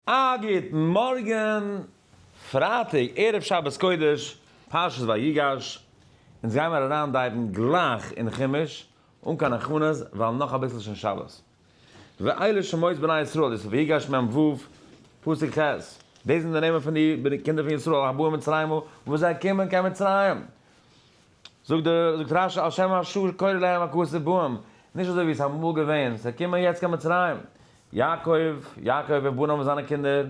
א גוטן מארגן, פרייטאג ערב שבת קודש, פרשת ויגש, אונז גייען מיר אריין דייוון גלייך אין חומש, אן קיין הכנות, ווייל נאך אביסל שוין שבת. ואלה שמות בני ישראל, דאס איז ויגש מ ו, פסוק ח', די זענען די נעמען פון די קינדער פון ישראל הבאים מצרימה, וואס זיי קומען קיין מצרים. זאגט דער זאגט רשי על שם אשור קורא להם הכסא בהם, נישט אזוי ווי עס איז אמאל געווען, זיי קומען יעצט קיין מצרים, יעקב, יעקב וועט באן האבן זיינע קינדער,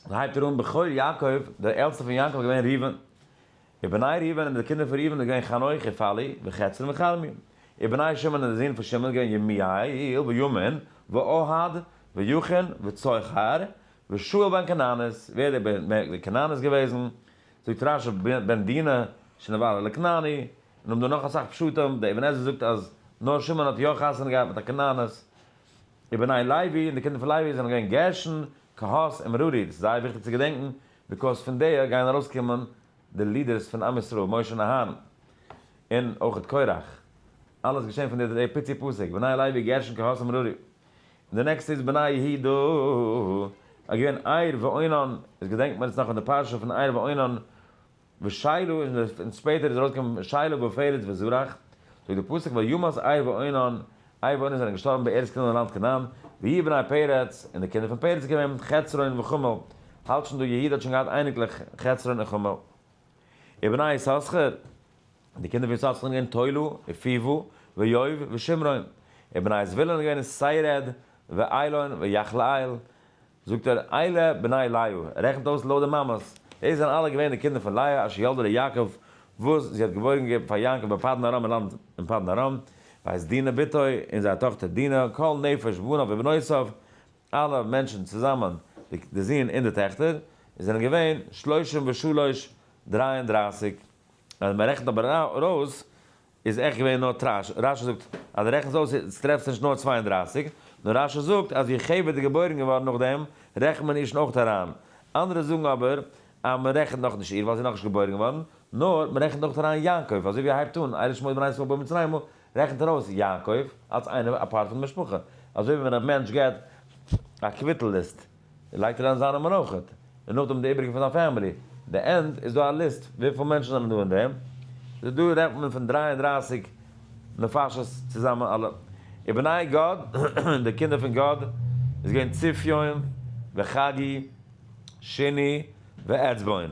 און הייבט ער אן בכור יעקב, דער עלטסטער פון יעקב איז געווען ראובן, ובני ראובן און די קינדער פון ראובן איז געווען חנוך און פללי וחצרון וחלמי, ובני שמעון און די זין פון שמעון איז געווען ימיאל ויאמין ואוהד ויכין וצוחר ושאול בן כנענית, ווער איז דער בן כנענית געוועזן? זאגט רש י בן דינה שנבעל על הכנעני, און האבן דא נאך אסאך פשטים, דער אבן עזרא זאגט אז נאר שמעון האט יא חתונה געהאט מיט א כנענית, ובני לוי, און די קינדער פון לוי זענען געווען גרשון, קהת און מרארי, דאס איז זייער וויכטיג צו געדענקן, ביקאויז פון די גייען ארויסקומען די לידערס פון עם ישראל, משה און אהרן, און אויך קרח, אלעס געשען פון די פיצי פסוק, בני לוי, גרשון, קהת און מרארי. און די נעקסטע איז בני יהודה איז געווען עיר ואונן, עס געדענקט מען עס נאך פון די פרשה פון עיר ואונן ושילה און שפעטער איז ארויסגעקומען שילה ופרץ וזרח, זאגט די פסוק וימות עיר ואונן, עיר ואונן זענען געשטארבן בארץ קנען לאנד קנען, והיו בני פרץ, און די קינדער פון פרץ איז געווען חצרון וחמול, האלט שוין דא יהודה האט שוין געהאט אייניקלעך חצרון און חמול. ובני יששכר. די קינדער פון ישראל זענען געווען תולו, ופיוו, ויואב, ושמרון. און בני זבולון איז געווען סיירעד, ואילון, ויחלעאל. זאגט ער, אלה בני לאה, ער רעכנט אויס לויט די מאמעס. דאס זענען אלע געווען די קינדער פון לאה אשר ילדה ליעקב, וואס זי האט געבוירן געגעבן פאר יעקב אין פדן ארם אין לאנד אין פדן ארם, בית דינה בתו, און זייער טאכטער דינה, כל נפש בניו ובנותיו, אלע מענטשן צוזאמען, די זון און די טעכטער, זענען געווען שלושים ושלוש, דריי און דרייסיג. ווען מען רעכנט אבער ארויס איז עכט געווען נאר תרש, רשי זאגט אז די רעכנסט אויס איז טרעפסט נישט נאר צוויי און דרײַסיק, נאר רשי זאגט אז ווי חוה איז געבוירן געווארן נאכדעם רעכנט מען איר'שן אויכט אריין, אנדערע זאגן אבער אז מען רעכנט נאך נישט איר ווייל זי איז נאכנישט געבוירן געווארן, נאר מען רעכנט אויכט אריין יעקב, אזוי ווי ער הייבט אן אלה שמות בני ישראל במצרימה רעכנט ער אויס יעקב אלס איינער א פארט פון די משפחה, אזוי ווי ווען א מענטש געט א קוויטל ליסט. לייגט אריין זיינע מנחות און נאכדעם די איבריגע פון זיין פעמילי, די ענד איז דא א ליסט וויפיל מענטשן זענען דא אין דעם, סאו דא רעדט מען פון דרײַ און דרײַסיק נפשות צוזאמען אלע ובני גד און די קינדער פון גד איז געווען צופיון וחגי שיני ועצבון.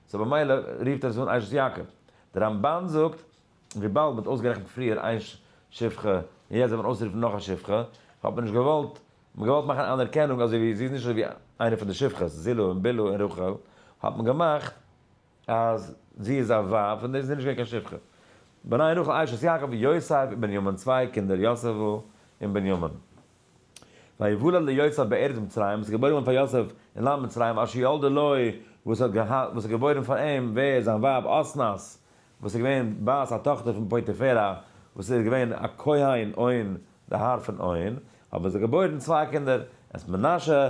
סאו במילא רופט ער עס אן עיי ש ז יעקב. די רמבן זאגט וויבאלד מ'האט אויסגערעכנט פריער איין שפחה און יעצט זאל מען אויסרופן נאך א שפחה, האט מען נישט געוואלט, מ'האט געוואלט מאכן אן אנערקענונג אזוי ווי זי איז נישט אזוי ווי איינע פון די שפחות, זילה און בילהא און רחל, האט מען געמאכט אז זי איז א ווייב פון דער, זי איז נישט געווען קיין שפחה. בניי רחל עיי ש ז יעקב, יוסף און בנימין צוויי קינדער יוסף און בנימין. ויוולד ליוסף בארץ מצרים, עס איז געבוירן געווארן פאר יוסף אין לאנד מצרים, אשר ילדה לו, וואס האט געהאט, וואס האט געבוירן פאר אים, ווער, זיין ווייב אסנת, וואס איז געווען בת א טאכטער פון פוטיפרא, וואס איז געווען א כהן און די האר פון און, האבן זיי געבוירן צוויי קינדער, את מנשה,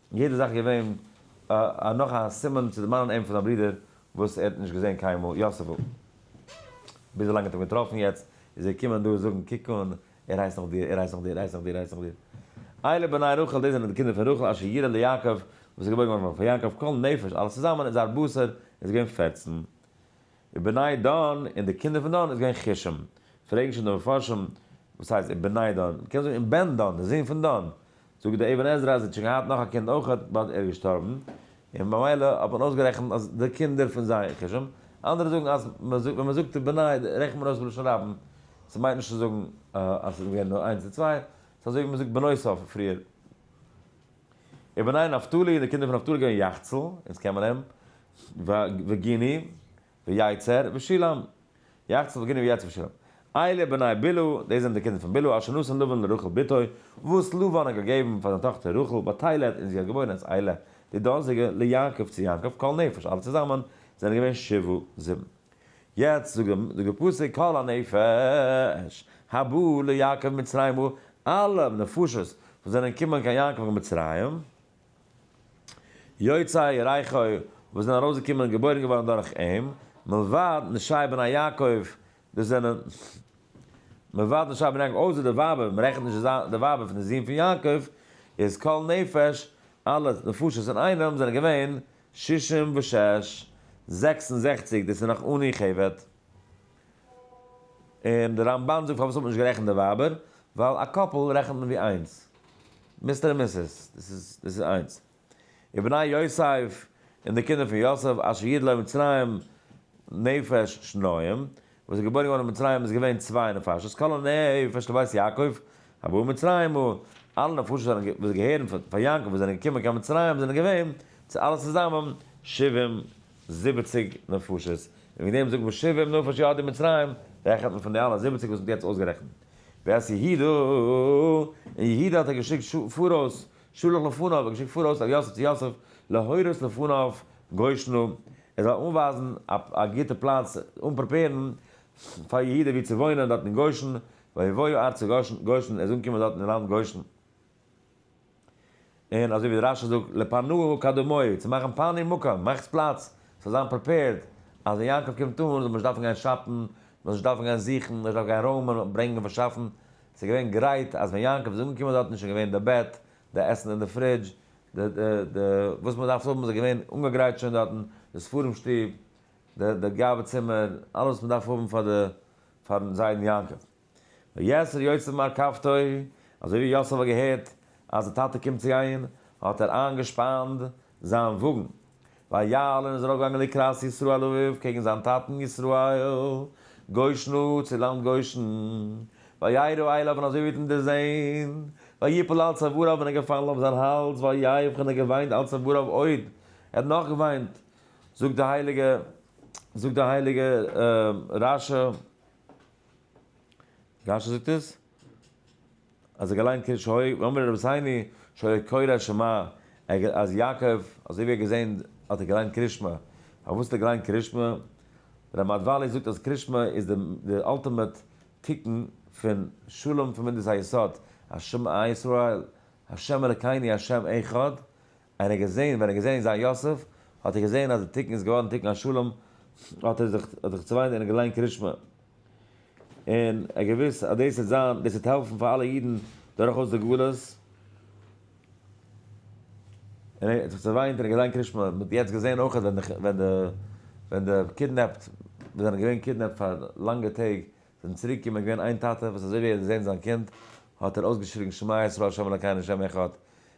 און יעדע זאך איז געווען א נאך א סימן צו דערמאנען אים פון זיין ברודער וואס ער האט נישט געזען קיינמאל, יוסף'ל. ביז ווילאנג האט אים געטראפן יעצט איז ער געקומען דא זאגן קוק אן, ער הייסט נאך דיר, ער הייסט נאך דיר, ער הייסט נאך דיר, ער הייסט נאך דיר. אלה בני רחל, דאס זענען די קינדער פון רחל אשר יראה ליעקב, וואס איז געבוירן געווארן פאר יעקב, כל נפש, אלעס צוזאמען איז זייער בשר איז געווען פֿערצן. ובני דן און די קינדער פון דן איז געווען כישם. פרעגן שוין די מפרשים, וואס הייסט ובני דן? מ'קען זאגן און בן דן, די זון פון דן. זאגט דער אבן עזרא אז ער האט שוין געהאט נאך א קינד אויך, באט ער איז געשטארבן, און במילא האט מען אויסגערעכנט אז די קינדער פון זיי כישם. אנדערע זאגן אז ווען מ'זאגט ובני רעכנט מען אויס בלשון רבים, ס'מיינט נישט צו זאגן אז ס'איז געווען נאר איינס און צוויי, ס'איז אזוי ווי מ'זאגט בנוסף פריער. ובני נפתלי און די קינדער פון נפתלי איז געווען יחצל, אונז קען מען אים, וגיני ויצר ושילם. יחצן וגיני ויצר ושילם. אלה בני בלהה, דאס זענען די קינדער פון בלהה, אשר נתן לבן לרחל בתו, וואס לבן האט געגעבן פאר זיין טאכטער רחל, בתילד, און זי האט געבוירן את אלה, די דאזיגע, ליעקב צו יעקב, כל נפש, אלע צוזאמען, זענען געווען שבעה, זיבן. יעצט זאגט דער פסוק, כל הנפש, הבא ליעקב ממצרימה, אלע נפשות וואס זענען געקומען קיין יעקב אין מצרים, יוצאי רייכא וואס זענען ארויסגעקומען און געבוירן געווארן דורך אים, מלבד נשי בני יעקב, דאס זענען, מלבד נשי בני יעקב, אויסער די ווייבער, מען רעכנט נישט די ווייבער פון די זון פון יעקב, איז כל נפש, אלע נפשות אינאיינעם, זענען געווען, שישים ושש, זעקס און זעכציק, דאס איז נאך אן אי-כבד. און די רמבן זאגט פארוואס האט מען נישט גערעכנט די ווייבער, ווייל א קאפל רעכנט מען ווי איינס, מיסטער און מיסעס, דאס איז איינס. ובני יוסף, און די קינדער פון יוסף, אשר יד לו מצרים נפש שניים, וואס איז געבוירן געווארן אין מצרים איז געווען צוויי נפשות, כל הנפש לבית יעקב הבא מצרימה, אלע נפשות וואס געהערן פאר יעקב וואס זענען געקומען קיין מצרים זענען געווען צו אלע צוזאמען שבעים זיבעציג נפשות, און וועגן דעם זאגט מען שבעים נפש ירדו מצרים, רעכנט מען פון די אלע זיבעציג וואס מען האט יעצט אויסגערעכנט. ואת יהודה, און יהודה האט ער געשיקט פאראויס, שלח לפניו, ער האט געשיקט פאראויס אל יוסף צו יוסף, להורות לפניו גושנו, ער זאל אנווייזן א גוטע פלאץ, אנפרעפערן פאר יהודה וואו צו וואוינען דארט אין גושן, ויבואו ארצה גושן, ער זאל אנקומען דארט אין לאנד גושן. און אזוי ווי דער רשע זאגט לפנוהו קדמוהו, צו מאכן פאני מקום, מאכטס פלאץ, ס'זאל זיין פריפעירד, אז ווען יעקב קומט אן זאל מען נישט דארפן גיין שאפן, מ'זאל נישט דארפן גיין זוכן, מ'זאל נישט דארפן גיין רוימען, ברענגען, פארשאפן, ס'איז געווען גרייט, אז ווען יעקב איז אנגעקומען דארטן איז שוין געווען די בעט, די עסן אין די פרידזש, די די די וואס מען דארף האבן איז געווען אנגעגרייט שוין דארטן, די ספרים שטוב, די די גאווה צימער, אלעס וואס מען דארף האבן פאר די פארן זיידן יעקב. ויצר יצר מהרכבתו, אזוי ווי יוסף האט געהערט אז די טאטע קומט צו גיין, האט ער איינגעשפאנט זיין וואגן, ויעל און איז ארויפגעגאנגען לקראת ישראל אביו קעגן זיין טאטן ישראל, גושנו צו לאנד גושן, וירא אליו און אזוי ווי ער האט אים דערזען, ויפול על צוואריו און ער איז געפאלן אויף זיין האלז, ויבך און ער האט געוויינט על צוואריו עוד, ער האט נאך געוויינט, זאגט די הייליגע זאגט די הייליגע רשי. רשי זאגט עס אז ער געליינט קרי ש הוי ואמר רבי זיני שהיה קורא שמע אז יעקב אזוי ווי ער געזען האט ער געליינט קרי ש מ פארוואס האט ער געליינט קרי ש מ ר' מאדוואלי זאגט אז קרי ש מ איז די די אלטימעט תיקון פון שלום פון מדות היסוד ה' אלקינו ה' אחד און ער האט געזען, ווען ער האט געזען זיין יוסף, האט ער געזען אז די תיקון איז געווארן תיקון השלום, האט ער זיך האט ער זיך צעוויינט און געליינט קרישמע, און ער האט געוואוסט אז דאס וועט זיין, דאס וועט העלפן פאר אלע אידן דורכאויס די גלות, און ער האט זיך צעוויינט און געליינט קרישמע, מען האט יעצט געזען אויך ווען די ווען די ווען די קידנעפט, וואס זענען געווען קידנעפט פאר לאנגע טעג, זענען צוריק געקומען, געווען איין טאטע וואס אזוי ווי ער האט געזען זיין קינד, האט ער אויסגעשריגן שמע ישראל ה' אלקינו ה' אחד,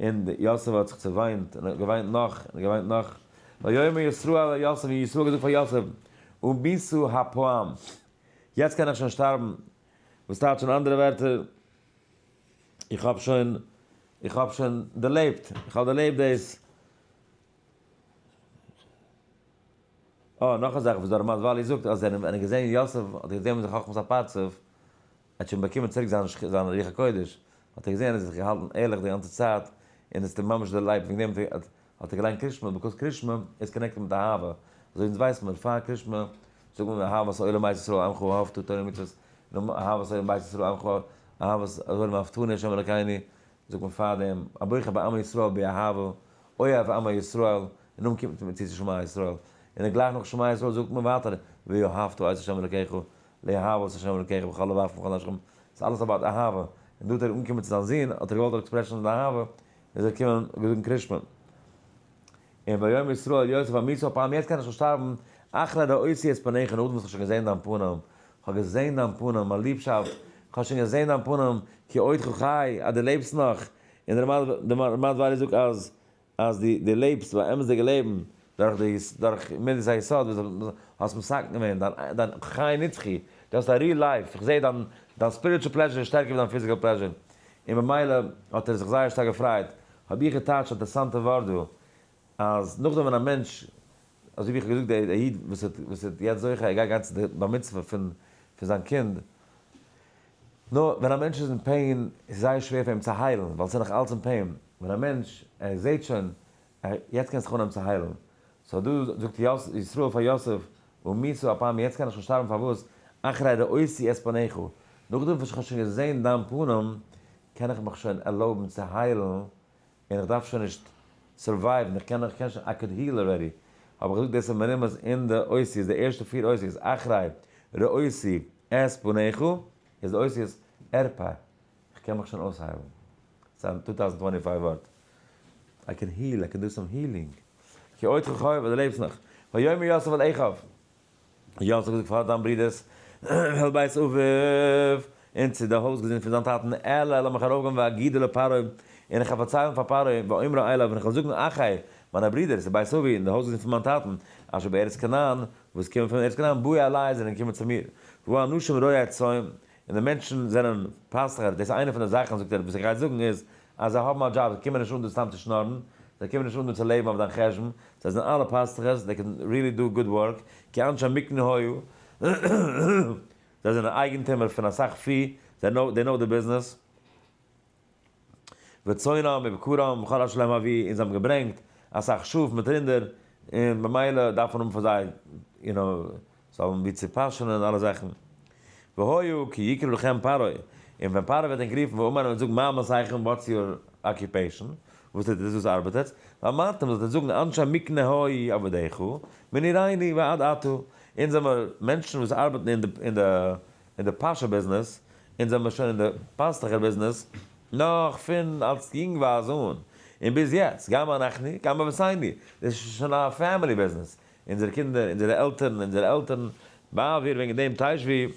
און יוסף האט זיך צעוויינט, און געוויינט נאך, און געוויינט נאך. ויאמר ישראל אל יוסף, און ישראל האט געזאגט פאר יוסף, וביסו הפעם, יעצט קען איך שוין שטארבן, וואס טייטש אין אנדערע ווערטער, איך האב שוין, איך האב שוין דערלעבט, איך האב דערלעבט דאס. אה, נאך א זאך וואס דער רמז ול זאגט, אז ווען ער האט געזען יוסף, האט ער געזען ווי זיין חכמת הפרצוף, ער האט שוין באקומען צוריק זיין רוח הקודש, האט ער געזען ער האט זיך געהאלטן ערליך די גאנצע צייט, און עס האט אים ממש דערלייבט, וועגן דעם האט ער געליינט קרישמע, ביקאוז קרישמע איז קאנעקטעד מיט אהבה, אזוי ווי אונז ווייסן מיר פאר קרישמע זאגן מיר אהבת עולם בית ישראל עמך אהבתו תורה ומצוות, און אהבת עולם בית ישראל עמך אהבת עולם אהבתני השם אלקיני, זאגט מען פאר דעם הבוחר בעמי ישראל באהבה, אוהב עמי ישראל, און נאכדעם קומט מען צו צו שמע ישראל, און גלייך נאך שמע ישראל זאגט מען ווייטער ואהבת את השם אלקיך, לאהבת השם אלקיך בכל לבך ובכל נפשך, ס'איז אלעס אבאוט אהבה, און דא האט ער אנגעקומען צו זיין זון, האט ער געוואלט עקספרעשן זיין אהבה, איז ער געקומען געזאגן קרישמען. און ויאמר ישראל אל יוסף אמיתו הפעם יעצט קען איך שוין שטארבן, אחרי ראיתי את פניך נאכדעם וואס כ'האב שוין געזען דיין פנים, כ'האב געזען דיין פנים, מיין ליבשאפט, כ'האב שוין געזען דיין פנים, כי עודך חי, אז דו לעבסט נאך, און דער רמד ור זאגט אז אז דו דו לעבסט די אמת'דיגע לעבן דורך די דורך מדת היסוד וואס דו האסט מסכם געווען דיין דיין חי נצחי, דו האסט א ריעל לייף, איך זעה דיין דיין ספיריטשול פלעזשער איז שטערקער ווי דיין פיזיקעל פלעזשער, און במילא האט ער זיך זייער שטארק געפרייט, האב איך געטייטשט א אינטערעסאנטע ווארט דא, אז נאכדעם ווען א מענטש, אזוי ווי איך האב געזאגט דער איד וואס איז וואס איז יעצט זוכה ער גייט גיין צו די בר מצוה פון פון זיין קינד, נא, ווען א מענטש איז אין פעין איז זייער שווער פאר אים צו היילן ווייל עס איז נאך אלץ אין פעין, ווען א מענטש ער זעהט שוין ער יעצט קען זיך אנהייבן צו היילן, סא דא זאגט ישראל פאר יוסף ומיתו אפיים יעצט קען איך שוין שטארבן פארוואס אחרי ראיתי את פניך נאכדעם וואס איך האב שוין געזעהן דיין פנים קען איך מיך שוין ערלויבן צו היילן און איך דארף שוין נישט סורווייוון, איך קען איך קען שוין, איי קאד היל אלרעדי, האב איך געזאגט דאס איז מרומז אין די אותיות, די ערשטע פיר אותיות, אחרי ראיתי את פניך, איז די אותיות ארפא, איך קען מיך שוין אויסהיילן, ס'איז א טו טאוזענד טווענטי פייוו ווארט, איי קען היל, איי קען דו סאם הילינג, כי אותך חייב, אז דו לעבסט נאך, ויאמר יוסף אל אחיו, יאָ, האָט זי געזאָגט, פֿאַר דײַן ברודערס װעלט בית אָבֿות, און צו די הױזגעזינד פֿון זײַן טאַטן, עלה, לאָמיך אַרױפֿגײן ואגידו לפּרעה, און איך װעל פֿאַרצײלן פֿאַר פּרעה, ואומרו אליו, און איך װעל זאָגן, אחי, מײַנע ברידער, צו בית אָבֿי, און די הױזגעזינד פֿון מײַן טאַטן, אשר בארץ כנען, װאָס קומען פֿון ארץ כנען, באו אלי, זײַנען געקומען צו מיר, װוּ אנשים רועי צאן, און די מענטשן זענען פיינסטערהייט, דאס איז איינע פון די זאכן זאגט ער וואס איך גיי זאגן איז אז זיי האבן א דזשאב, זיי קומען נישט אן דא סתם צו שנארן, זיי קומען נישט אן דא צו לעבן אויף דיין חשבון, זיי זענען אלע פיינסטערהייט, זיי קענען ריעלי דא גוד ווארק, כי אנשי מקנה היו, זיי זענען אייגענטומער פון אסאך פי, זיי נאו, דעי נאו די ביזנעס. וצאנם ובקרם וכל אשר להם אבי און זיי האבן געברענגט אסאך שאף מיט רינדער און במילא דארף מען האבן פאר זיי יו נאו זיי האבן ווי צו פאשענען און אלע זאכן והיו כי יקרא לכם פרעה און ווען פרעה וועט ענק רופן ואומר און זאגן מה מסעיכם וואטס יור אקיופעישן וואס טוט איר דאס וואס ארבעט עטץ ואמרתם זאלט איר זאגן אנשי מקנה האי עבדיך מנעריני ועד עתה אונז זעמער מענטשן וואס ארבעטן אין די אין די פארשער ביזנעס, אונז זעמיר שוין אין די פאסטוכער ביזנעס נאך פון אלס יונגווייז אן און ביז יעצט, גם אנחנו גם אבותינו, דאס איז שוין א פעמילי ביזנעס, אונזערע קינדער, אונזערע עלטערן, אונזערע עלטערן, ווייל ווער וועגן דעם תשבי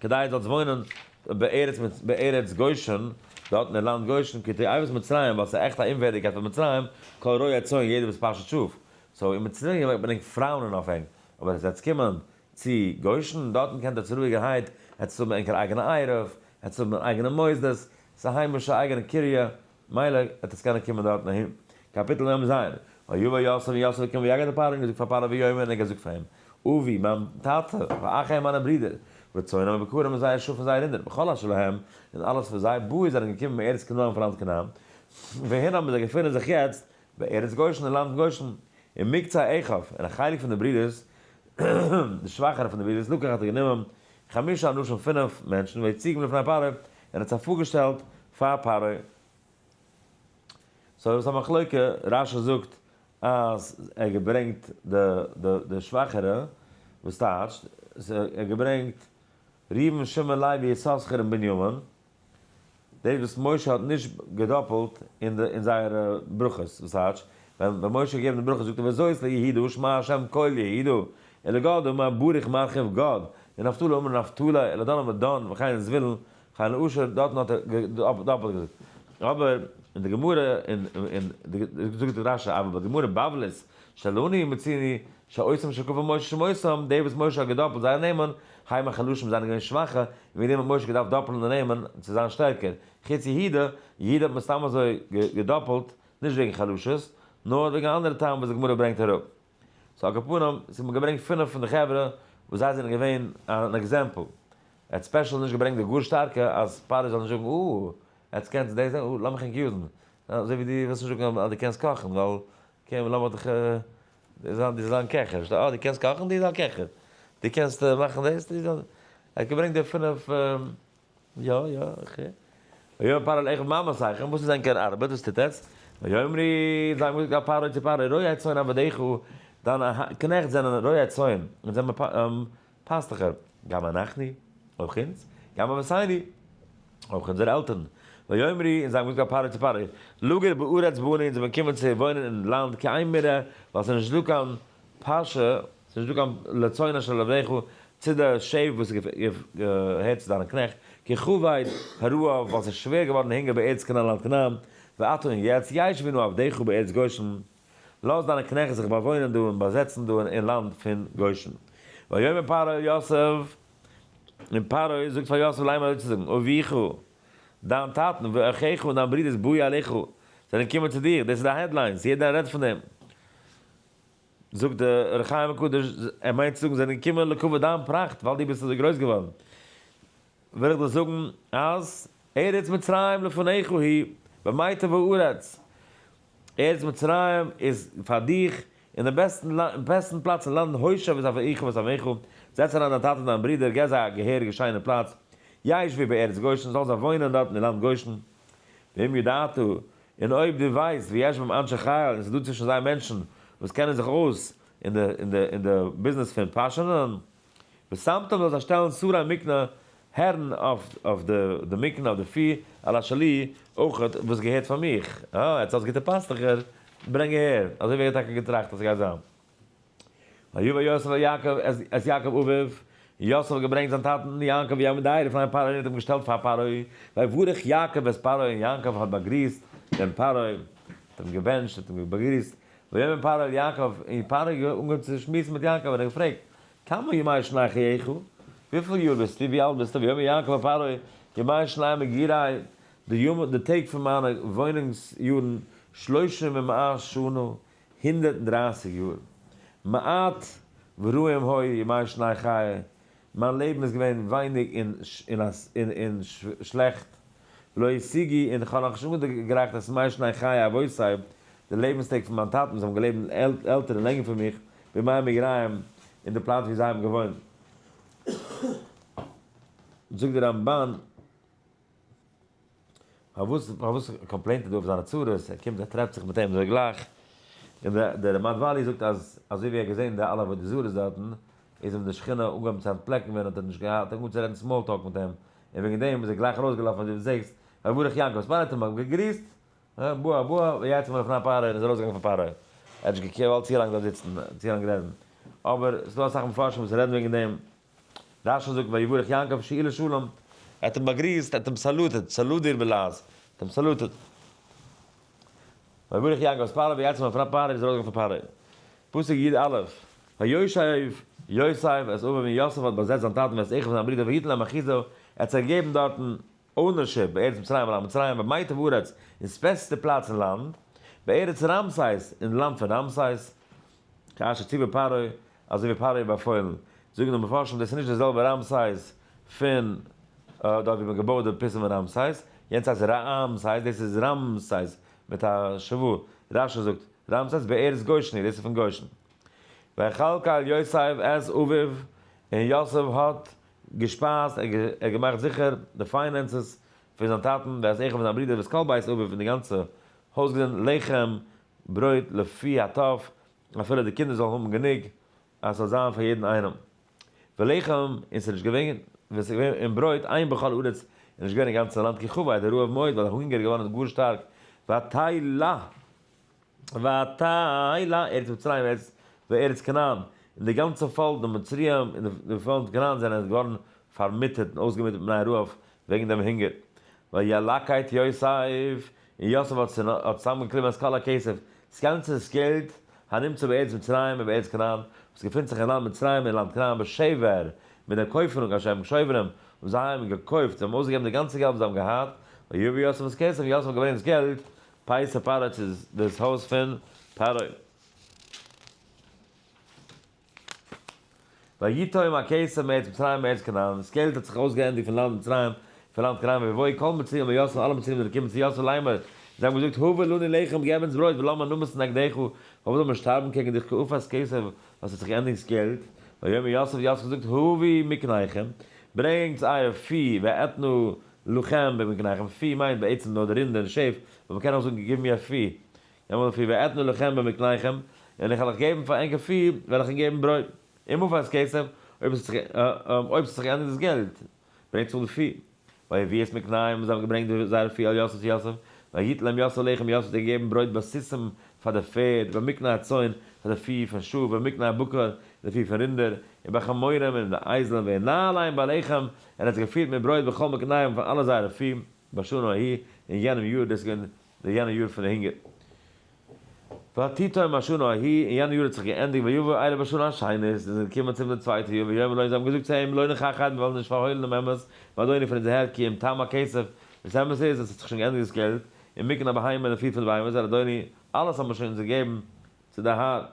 כדי זאלסט וואוינען בארץ בארץ גושן, דארט אין די לאנד גושן, כי תועבת מצרים, ווייל ס'איז עכט א אומווערדיגקייט פאר מצרים, כל רועי הצאן יעדער וואס פאשעט שאף, סאו אין מצרים ברענגט פרויען און אויף ענק, אבער עס וועט קומען צו גוישן, דארטן קענט עטס רואיגערהייט עטס האבן ענקער אייגענע עירוב, עטס האבן איר אייגענע מוסדות, ס'איז א היימישע אייגענע קריה, מילא עטס קענען קומען דארטן אהין. קאפיטל מ ז, ויבא יוסף און יוסף איז געקומען ויגד את פרעה און געזאגט פאר פרעה ויאמר און ער האט געזאגט פאר אים, אבי, מיין טאטע, ואחיי מיינע ברידער, וצאנם ובקרם און זייער שאף און זייער רינדער, וכל אשר להם, און אלעס פון זיי, באו זיי זענען געקומען מארץ כנען פון לאנד כנען, וואוהין האבן זיי געפונען זיך יעצט, בארץ גושן אין לאנד גושן, און מקצה אחיו, און א חלק פון די ברידערס, די שוואכערע פון די ברידערס, לקח האט ער גענומען חמשה אנשים פינף מענטשן והציגם לפני פרעה, און ער האט זיי פארגעשטעלט פאר פרעה. סאו ס'איז א מחלוקה, רש י זאגט אז ער האט געברענגט די שוואכערע, וואס טייטשט, ער האט געברענגט ראובן שמעון לוי יששכר און בנימין, דאס וואס משה האט נישט געדאפעלט אין די אין זייערע ברכות, וואס הייטש ווען ווען משה האט געגעבן די ברכות זאגט ער וזאת ליהדו שמע השם כל יהדו אלא גאד אמר בריך מרחיב גאד ונפתלי אמר נפתלי אלא דן אמר דן וכן זבולון וכן אשר דארטן האט ער געדאפעלט געזאגט אבער אין די גמרא אין אין זאגט רשי אבער ביי גמרא בבלית שלוני ומצילי, שעושים של קבר משה שמותם, די וואס משה האט געדאפלט זייער נעמען, חיים החלשים זיינען געווען שוואכע, און וועגן דעם האט משה געדארפט דאפלן די נעמען צו זיין שטערקער, חוץ יהודה, יהודה האט מען סתם אזוי געדאפלט, נישט וועגן חלשות, נאר וועגן א אנדערע טעם וואס די גמרא ברענגט אראפ. סאו על כל פנים, ס'האט מען געברענגט פינף פון די חברה וואס זיי זענען געווען אן עקזעמפל. ער האט ספעשל נישט געברענגט די גאר שטארקע אז פרעה זאל נישט זאגן אה, עטס קענטס דאס, אה, לאמיך ענק יוזן, אזוי ווי דו ווילסט נישט זאגן אז דו קענסט קאכן, ווייל אקעי און לאמיר דיך זיין דו זאלסט זיין קעכער נישט אה דו קענסט קאכן דו זיין קעכער דו קענסט מאכן דאס דו זיין ער האט געברענגט די פינף יא יא אקעי ויאמר פרעה אל עכב מה מסייכם וואס איז ענקער ארבעט וואס טוט עטץ ויאמרי זיי האבן געזאגט א פרעה צו פרעה רועי צאן עבדיך דיינע קנעכט זענען רועי צאן און זיי האבן פאסט דאך אויף גם אנחנו, אויך אונז, גם אבותינו, אויך אונזערע עלטערן, ויאמרי, און זיי האבן געזאגט פאר פרעה צו פרעה, לגור בארץ בני, אונז וועלן קומען צו וואוינען אין לאנד כעין מרעה, ווייל ס'איז נישט דא קיין פאשע, ס'איז נישט דא קיין לצאן אשר לרעך, צו די שעף וואס געהערט צו דיינע קנעכט, כי כבד הרעב, ווייל ס'איז שווער געווארן דער הונגער בארץ כנען אין לאנד כנען, ועתה און יעצט, ישבנו עבדיך בארץ גושן, לאָז דײַנע קנעכט זיך באַוואוינען דאָ און באַזעצן דאָ אין לאַנד פֿון גושן. ויאמר פרעה אל יוסף, און פרעה זאָגט פֿאַר יוסף, ליימער אויס צו זאָגן, אביך, דײַן טאַטן, ואחיך און דײַן ברודערס באו אליך, זענען געקומען צו דיר. דאָס איז די העדליינס, יעדער רעדט פֿון דעם. זאָגט דער אור החיים הקדוש, ער מיינט צו זאָגן, זענען געקומען לכּבֿוד דײַן פּראַכט, ווײַל דו ביסט אַזוי גרויס געוואָרן. וועל איך דיר זאגן אז ארץ מצרים לפניך היא, במיתה וארץ, ארץ מצרים איז פאר דיך, און די בעסטן פלאץ אין לאנד הושב את אביך ואת אמיך, זעץ אריין דיין טאטע און דיין ברודער, געב זיי א געהעריגע שיינע פלאץ, ישבו בארץ גושן, זאלן זיי וואוינען דארט אין לאנד גושן, ואם ידעת, און אויב דו ווייסט, ויש בהם אנשי חיל, און ס'איז דא צווישן זיי מענטשן וואס קענען זיך אויס אין די ביזנעס פון פאשענען. ושמתם זאל זיי שטעלן סארא מקנה הערן אויף די מקנה אויף די פי על השלי אויכעט וואס געהערט פאר מיך, אה יעצט האסט גוטע פאסטוכער, ברענג אהער, אזוי ווי ער האט טאקע געטראכט אז ס'גייט זיין. ויבא יוסף אל יעקב את יעקב אביו, יוסף האט געברענגט זיין טאטן יעקב יעמוד דאהי לפני פרעה און האט אים געשטעלט פאר פרעה, ויברך יעקב את פרעה און יעקב האט באגריסט דעם פרעה, האט אים געבענטשט, האט אים באגריסט, ויאמר פרעה אל יעקב און פרעה האט אנגעהויבן צו שמועסן מיט יעקב און ער האט געפרעגט. כמה ימי שני חייך? וויפיל יאר ביסטו? ווי אלט ביסטו? ויאמר יעקב אל פרעה, ימי שני מגיריי, די טעג פון מיינע וואוינונגס יארן, שלושים ומאה שנה, הונדערט און דרייסיג יאר. מעט ורועים היו ימי שני חיי, מיין לעבן איז געווען ווייניג און שלעכט. לא השיגי, און כ'האב נאך נישט אנגעגרייכט את מי שני חיי אבותי, די לעבנסטעג פון מיין טאטן, זיי האבן געלעבט עלטער און לענגער פון מיך, בימי מגריים, אין די פלאץ ווי זיי האבן געוואוינט. זאגט דער רמבן, פארוואס פארוואס קאמפלעינט ער דא אויף זיינע צרות, ער קומט ער טרעפט זיך מיט אים אזוי גלייך, און דער מדבלי זאגט אז אזוי ווי ער האט געזען די אלע עבודה זרות דארטן, איז אים די שכינה אנגעהויבן צו אנטפלעקן ווען ער האט נישט געהאט אנגעהויבן צו רעדן סמאל טאלק מיט אים, און וועגן דעם איז ער גלייך ארויסגעלאפן ווי דו זעהסט רבי ברוך יעקב ספאר האט אים באגריסט בוא בוא ויצא מלפני פרעה און איז ארויסגעגאנגען פון פרעה ער האט נישט געוואלט צו לאנג דארט זיצן צו לאנג רעדן אבער ס'איז דא אסאך מפרשים וואס רעדן וועגן דעם רש י זאגט ויהי ברך יעקב שיעי לשלום ער האט אים באגריסט ער האט אים סעלוטעד סעלוט דיר בלעז ער האט אים סעלוטעד. ויברך יעקב את פרעה ויצא מפני פרעה און איז ארויסגעגאנגען פון פרעה. פסוק יג א. וישב יוסף את אביו און יוסף האט באזעצט זיין טאטן ואת אחיו און זיין ברודער והיתן להם אחיזה ער האט זיי געגעבן דארטן אונערשיפ בארץ מצרים ווייל מצרים איז במיטב הארץ איז פעסטע פלאץ אין לאנד בארץ רעמסס אין לאנד פון רעמסס כאשר ציווה פרעה אזוי ווי פרעה האט באפוילן, זאגן די מפרשים דאס איז נישט די זעלבע ראמסייס פון דארט ווי מען האט געבויעט די פיסן פון ראמסייס, יענץ הייסט ראאמסייס דאס איז ראמסייס מיט א ש ו, רשי זאגט, ראמסייס בארץ גושני דאס איז פון גושן. ויחלק אל יוסף את אביו און יוסף האט געשפייזט, ער האט געמאכט זיכער די פיינענסעס פון זיין טאטן ואת אחיו און זיין ברודער ואת כל בית אביו און די גאנצע הויז געזינט לחם ברויט לפי הטוב אפילו די קינדער זאלן האבן גענוג אז ס'זאל זיין פאר יעדן איינעם ולחם, און ס'איז נישט געווען, און ס'איז געווען און ברויט עיין בכל הארץ, און נישט געווען אין גאנצן לאנד כי חווה את הרעב מאוד ווייל הונגער איז געווארן גאר שטארק, ותהי ל ותהי ל ארץ מצרים וארץ וארץ כנען, און די גאנצע פאלק די מצרים און די פאלק כנען זענען געווארן פארמיטערט און אויסגעמיטערט מפני הרעב וועגן דעם הונגער, וילקט יוסף און יוסף האט צוזאמגעקליבן את כל הכסף, דאס גאנצע געלט, הנמצא בארץ מצרים ובארץ כנען, וואס געפינט זיך אין לאנד מצרים און לאנד כנען בשבר, מיט דער קויפענונג אשר הם שוברים, וואס זיי האבן געקויפט, זיי האבן אויסגעגעבן די גאנצע געלט וואס זיי האבן געהאט, ויבא יוסף את כסף, און יוסף האט געברענגט דאס געלט, פייסא פרעה צו דאס הויז פון פרעה. ויתום הקיסר מארץ מצרים מארץ כנען, דאס קעלט האט זיך אויסגעענדיגט פון לאנד מצרים, פון לאנד כנען ויבואו כל מצרים אל יוסף, אלע מצרים זענען געקומען צו יוסף לאמור, זיי האבן געזאגט, הבה לנו לחם, געב אונז ברויט, ולמה נמות נגדך, פארוואס זאל מען שטארבן קעגן דיך כעופת קיסר, ווייל עס האט זיך געענדיגט דאס געלט, ויאמר יוסף, יוסף האט געזאגט, הביאו מקניכם, ברענגטס אייער פי, ואתנה לכם במקניכם, פי מיינט בעצם נאר די רינדער און שעף, אבער מען קען אויך זאגן, גיב מיר א פי, נעם אנפיר ואתנה לכם במקניכם, און איך וועל אייך געבן פאר ענקער פיר וועל איך אונק געבן ברויט, און מפרס כסף, אויב עס האט זיך געענדיגט דאס געלט, ברענגט צוריק די פיר. ויהי ווי עס מקנאים, און זיי האבן געברענגט זייערע פיר אל יוסף צו יוסף, והיית להם יוסף לחם, יוסף האט זיי געגעבן ברויט בסיסים פאר די פערד, במקנה הצאן, פאר די פיר פון שאף, במקנה הבקר, פאר די פיר פון רינדער, און בחמורים, און די אייזלען, והנה עליהם בלחם, און ער האט זיי געפירט מיט ברויט בכל מקניהם פאר אלע זייערע פיר, בשנה ההיא, אין יענעם יאר, דאס איז געווען. די יענע יאר פון די הונגער. ותיתם השנה ההיא, און יענע יאר האט זיך געענדיגט ויבואו אלה בשנה השנית, און זיי זענען געקומען צום דעם צווייטע יאר, ויאמרו להם, זיי האבן געזאגט צו אים, לא נכחד, מיר וועלן נישט פארהוילן דעם אמת, באדוני פון אונזער הער, כי אם תם הכסף, וואס אמת איז, עס האט זיך שוין געענדיגט דאס געלט, און מקנה הבהמה לפי פול בהמות, אדוני, אלעס האבן מיר שוין אונז געגעבן צו די האר.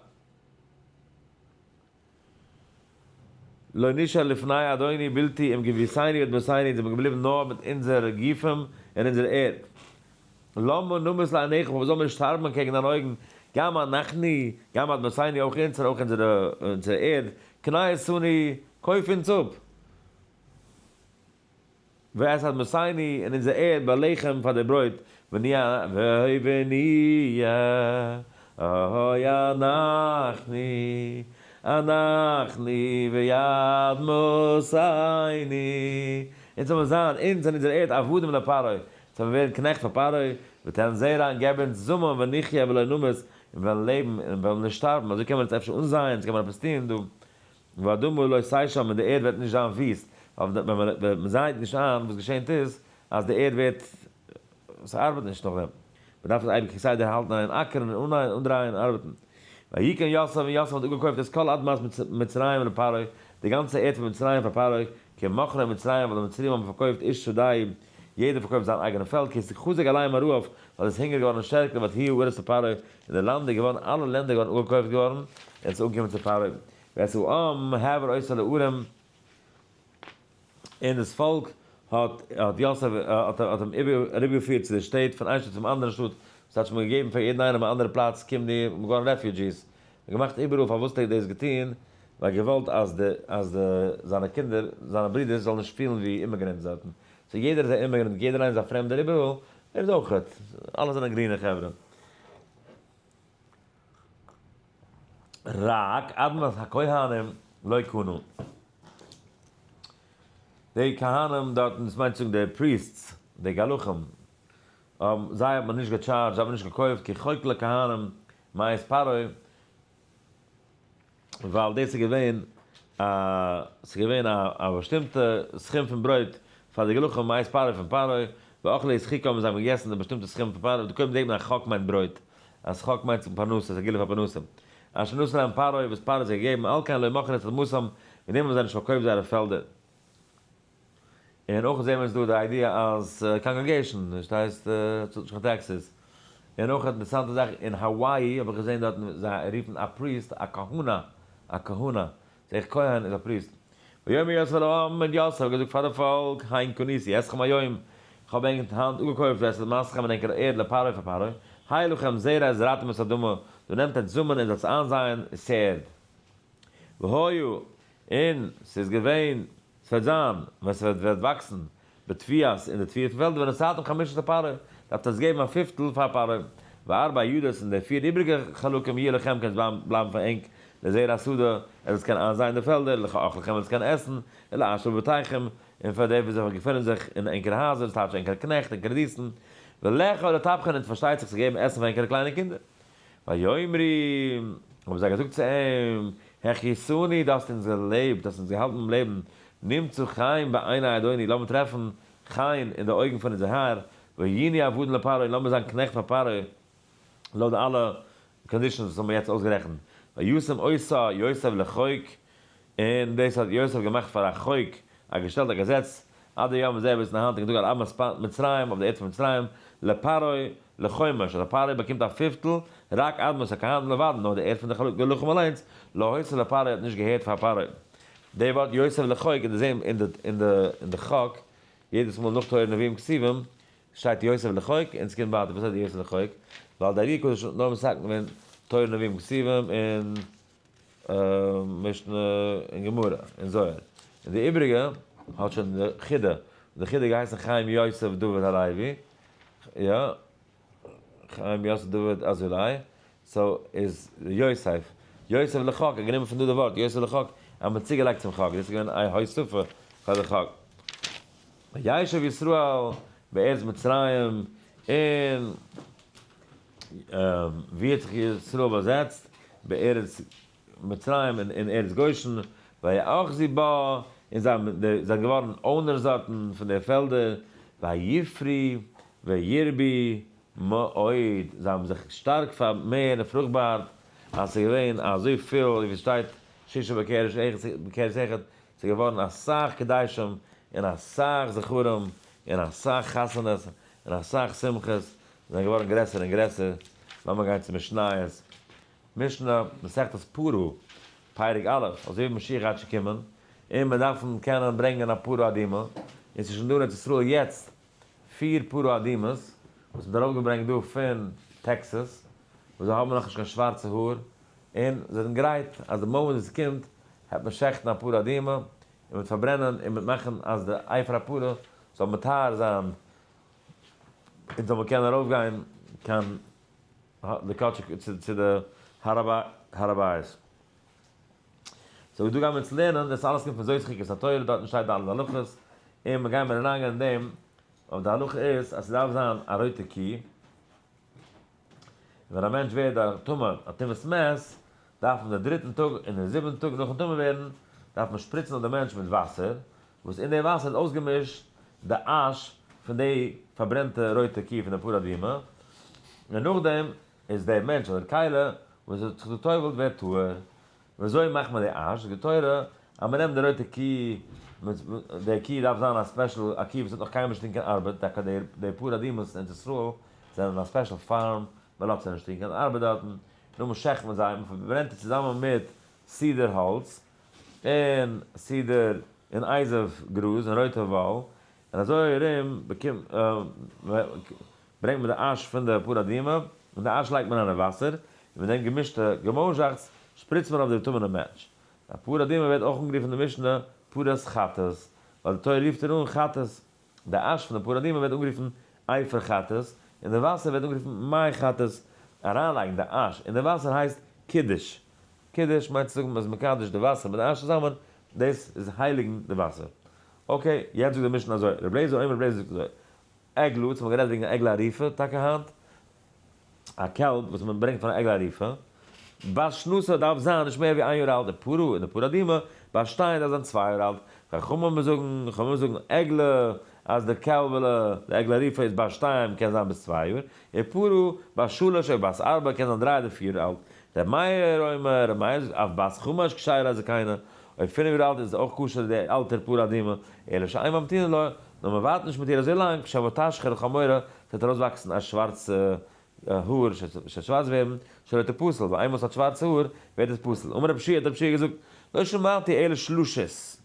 לא נשאר לפני אדוני בלתי אם גביסינו את בסינו אונז זעמיר געבליבן נאר מיט אונזערע גופים און אונזער ערד. למה נמות לעיניך פארוואס זאלן מיר שטארבן אנטקעגן דיין אויגן, גם אנחנו גם את בסינו אויך אונז און אויך אונזערע ערד, קנה איתנו קויף אונז אפ. ואת אדמתינו און אונזער ערד ביי לחם פאר די ברויט ונהיה והוי ונהיה אהוי אנחנו אנחנו ואדמתינו אונז זאל מען זיין אונז און אונזער ערד עבדים לפרעה זאל מען ווערן קנעכט פאר פרעה ותן זרע און געב אונז זאמען ונחיה ולא נמות און וועלן לעבן און וועלן נישט שטארבן אזוי קען מען עס אפשר אנזייען אזוי קען מען עפעס טון דא והאדמה לא תשען און די ערד וועט נישט זיין וויסט, ווייל ווען מען זייעט נישט איין וואס געשענט איז אז די ערד ווערט, ס'ארבעט נישט נאכדעם, מען דארף עס אייביג כסדר האלטן און אקערן און אנהייען אנדרייען און ארבעטן. ויקן יוסף און יוסף האט אפגעקויפט את כל אדמת מצרים לפרעה, די גאנצע ערד פון מצרים פאר פרעה, כי מכרו מצרים ווייל די מצרים האבן פארקויפט איש שדהו, יעדער פארקויפט זיין אייגענע פעלד, כי ס'חזק עליהם הרעב ווייל עס איז הונגער געווארן שטערקער ואת היו ארץ לפרעה, און די לאנד איז געווארן אלע לענדער געווארן אפגעקויפט געווארן, און עס איז אנגעקומען צו פרעה ואת העם העבר אויסער די ערים, און דאס פאלק האט האט יוסף האט האט אים איבער אריבערגעפירט צו די שטעט, פון איין שטאט צום אנדערן שטאט, דאס טייטש מ'האט געגעבן פאר יעדן איינעם א אנדערע פלאץ, קום דיר, מ'איז געווארן רעפיודזשיס, מ'האט געמאכט איבעראל, פארוואס האט ער דאס געטון? ווייל געוואלט אז די אז די זיינע קינדער, זיינע ברידערס זאלן נישט פילן ווי אימעגרענטס דארטן, סאו יעדער איז א אימעגרענט, יעדער איינער איז א פרעמדער איבעראל, ער איז אויכעט, אלע זענען גרינע חברה. רק אדמת הכהנים לא קנו. די כהנים דארטן, דאס מיינט צו זאגן די פריעסטס, די גלחים, זיי האט מען נישט געטשארדזשט, זיי האבן נישט געקויפט, כי חוק לכהנים מעת פרעה, ווייל דאס איז געווען א ס'איז געווען א א באשטימטע סכום פון ברויט פאר די גלחים מאת פרעה פון פרעה, ואכלו את חיקם און זיי האבן געגעסן די באשטימטע סכום פון פרעה, קודם זעט מען אז חק מיינט ברויט, אז חק מיינט צום פרנסה, ס'איז א גילוי פאר פרנסה. אשר נתן להם פרעה, וואס פרעה האט זיי געגעבן, על כן לא מכר את אדמתם, מיט דעם האבן זיי נישט פארקויפט זייערע פעלדער. און אויך זעהן מיר איז דא די איידיע אז קאנגרעגעישן נישט הייסט צאלט נישט קיין טעקסעס. און אויך אינטערסאנטע זאך אין האוואאי האב איך געזעהן דארטן זיי רופן א פריסט א כהונה א כהונה זעה איך כהן איז א פריסט. ויאמר יוסף אל העם און יוסף האט געזאגט פאר די פאלק היין קניתי אתכם היום איך האב ענק היינט אפגעקויפט אסד מעשיכם און ענקער ערד לפרעה פאר פרעה היה לכם זרע און זרעתם את האדמה דא נעמט ענק זאמען און זאלטס איינזייען ס'ערד והיו און ס'איז געווען ס'וועט זיין, ווען ס'וועט וועט וואקסן בתביעת אין די תביעה פון פעלדער, ווען עס צייט אן חמשת הפרה, דארפט עס געבן א פיפטל פאר פרה, וארבע הידות, און די פיר איבריגע חלקים יהיה לכם קען עס בלייבן בלייבן פאר ענק לזרע השדה, ער זאל עס קענען איינזייען אין די פעלדער, לכאוכל לכם ער זאל עס קענען עסן, ולעשב בבתיכם, און פאר די וואס זיך וואס געפונען זיך אין ענקערע הייזער, ס'טייטש ענקערע קנעכט, ענקערע דינסטן, ולאכול לטפחן, און פארשטייט זיך צו געבן עסן פאר ענקערע קליינע קינדער. ויאמרו, האבן זיי געזאגט צו אים, הכיסוני, דארפסט אונז געלעבט, דארפסט אונז געהאלטן ביים לעבן, נמצא חן בעיני אדוני, לאמיר טרעפן חן אין די אויגן פון אונזער האר, והייני עבדן לפרעה, און לאמיר זיין קנעכט פאר פרעה, לויט די אלע קאנדישאנס וואס האבן מיר יעצט אויסגערעכנט, וישם עשו יוסף לחוק, און דאס האט יוסף געמאכט פאר א חוק, א געשטעלט א געזעץ, עד היום זה ביזן היינטיגן טאג על אמת מצרים, אויף די ערד פון מצרים, לפרעה לחומש, אז א פרעה באקומט א פיפטל, רק אדמת הכהנים לבדן, נאר די ערד פון די חלקי לחם אליינס, לא הוצא לפרעה האט נישט געהערט פאר פרעה. די ווארט יוסף לחוק און די זעהן אין די חק, יעדעס מאל נאך תורה נביאים כתובים, שטייט יוסף לחוק, און עס קומט ווייטער וואס הייסט יוסף לחוק, ווייל די ארי הקדוש האט נאר מסכם געווען תורה נביאים כתובים און. משנה און גמרא און זוהר און די איבריגע האט שוין די חידא די חידא געהייסן חיים יוסף דוד הלוי יא חיים יוסף דוד אזולאי סאו איז יוסף יוסף לחק איז גענומען פון דא די ווארט יוסף לחק אז מען האט צוגעלייגט צום חק דאס איז געווען א הוספה פאר די חק וישב ישראל בארץ מצרים און. ווי האט זיך ישראל באזעצט? בארץ מצרים אין ארץ גושן, ויאחזו בה, און זיי זענען געווארן אונערס דארטן פון די פעלדער, ויפרי וירבי מאוד, זיי האבן זיך שטארק פארמערט און פרוכבארט, אז ס'איז געווען אזוי פיל, ווי עס שטייט שישה בקרש אחד, בקרש אחד, ס'איז געווארן אסאך קדשים, און אסאך זכרים, און אסאך חתונות, און אסאך שמחות, זענען געווארן גרעסער און גרעסער, לאמיר גיין צו משניות, משנה, מסכת פרעה, פרק א', אזוי ווי משיח גייט שוין קומען, און מיר דארפן קענען ברענגען א פרה אדומה, און ס'איז שוין דא אין ארץ ישראל יעצט פיר פרה אדומות, וואס מ'האט ארויפגעברענגט דא פון טעקסעס, וואס זיי האבן נאכנישט קיין שווארצע האר, און זיי זענען גרייט אז די מאמענט וואס עס קומט, העט מען שעכטן א פרה אדומה, און מ'העט פארברענען, און מ'העט מאכן אז די עפר הפרה זאל מטהר זיין, און זאל מען קענען ארויף גיין קיין די קאטשע צו די הר הבית. סאו ווי דא גייען מיר יעצט לערנען, דאס אלעס קומט פון זוהר חוקת התורה, דארטן שטייט די אלע הלכות, און מיר גייען מיר אריינגיין אין דעם, אבער די הלכה איז אז ס'דארף זיין א רויטע קו, ווען א מענטש ווערט א טמא א טומאת מת, דארף און די דריטן טאג און די זיבנטן טאג נאכן טמא ווערן, דארף מען שפריצן אויף די מענטש מיט וואסער, וואס אין די וואסער איז אויסגעמישט די אש פון די פארברענטע רויטע קי פון די פרה אדומה, און נאכדעם איז דער מענטש אדער כלה וואס האט זיך געטובלט ווערט טהור. וויאזוי מאכט מען די אש? זאגט די תורה אז מ'נעמט די רויטע קי, די קי דארף זיין א ספעשל א קי וואס האט נאך קיינמאל נישט געטון קיין ארבעט, טאקע די פאר אדמות אין ארץ ישראל זענען אין א ספעשל פארם, מ'לאזט זיי נישט טון קיין ארבעט דארטן, נו מ'שחט מען זיי, מ'פארברענט עס צוזאמען מיט סידער האלץ, און סידער, און אייזעוו גראז, און רויטע וואל, און אזוי ארום ברענגט מען די אש פון די פרה אדומה, און די אש לייגט מען אריין אין וואסער, און מיט דעם געמישטע געמויזשאכץ שפריצט מען אויף די געטומענע מענטש. די פרה אדומה ווערט אויך אנגערופן אין די משנה פרת חטאת, ווייל די תורה רופט איר אן חטאת. די אש פון די פרה אדומה ווערט אנגערופן עופר חטאת, און די וואסער ווערט אנגערופן מי חטאת. אריינלייגן די אש אין די וואסער הייסט קידוש. קידוש מיינט צו זאגן מ'איז מקדש די וואסער מיט די אש צוזאמען, דאס איז הייליגן די וואסער. אקעי, יעצט זאגט די משנה אזוי, רבי אליעזר אומר רבי אליעזר זאגט אזוי, עגלה, אונז האבן גערעדט וועגן א עגלה ערופה טאקע היינט, א קעלב וואס מען ברענגט פאר א עגלה ערופה, בת שנתה דארף זיין נישט מער ווי איין יאר אלט, די פרה און די פרה אדומה באשטיין דארף זיין צוויי יאר אלט, חכמים זאגן, חכמים זאגן עגלה אז די קעלבעלע, די עגלה ערופה איז בת שתיים קען זיין ביז צוויי יאר, און פרה בת שלש אויב בת ארבע קען זיין דריי אדער פיר יאר אלט, ר' מאיר אומר, ר' מאיר זאגט אויף בת חמש כשיר אז קיינע, אויב פינף יאר אלט איז אויך כשר די אלטער פרה אדומה, אלא שאין ממתינין לה, נאר מען ווארט נישט מיט איר אזוי לאנג, שבו תשחר לחמורה, ס'וועט ארויסוואקסן א שווארצע האר, ס'וועט שווארץ ווערן, שלא תפסל, ווייל איינמאל ס'האט שווארצע האר, ווערט עס פסול, אמר רב שיע, האט רב שיע געזאגט, לא שמעתי אלא שלשות,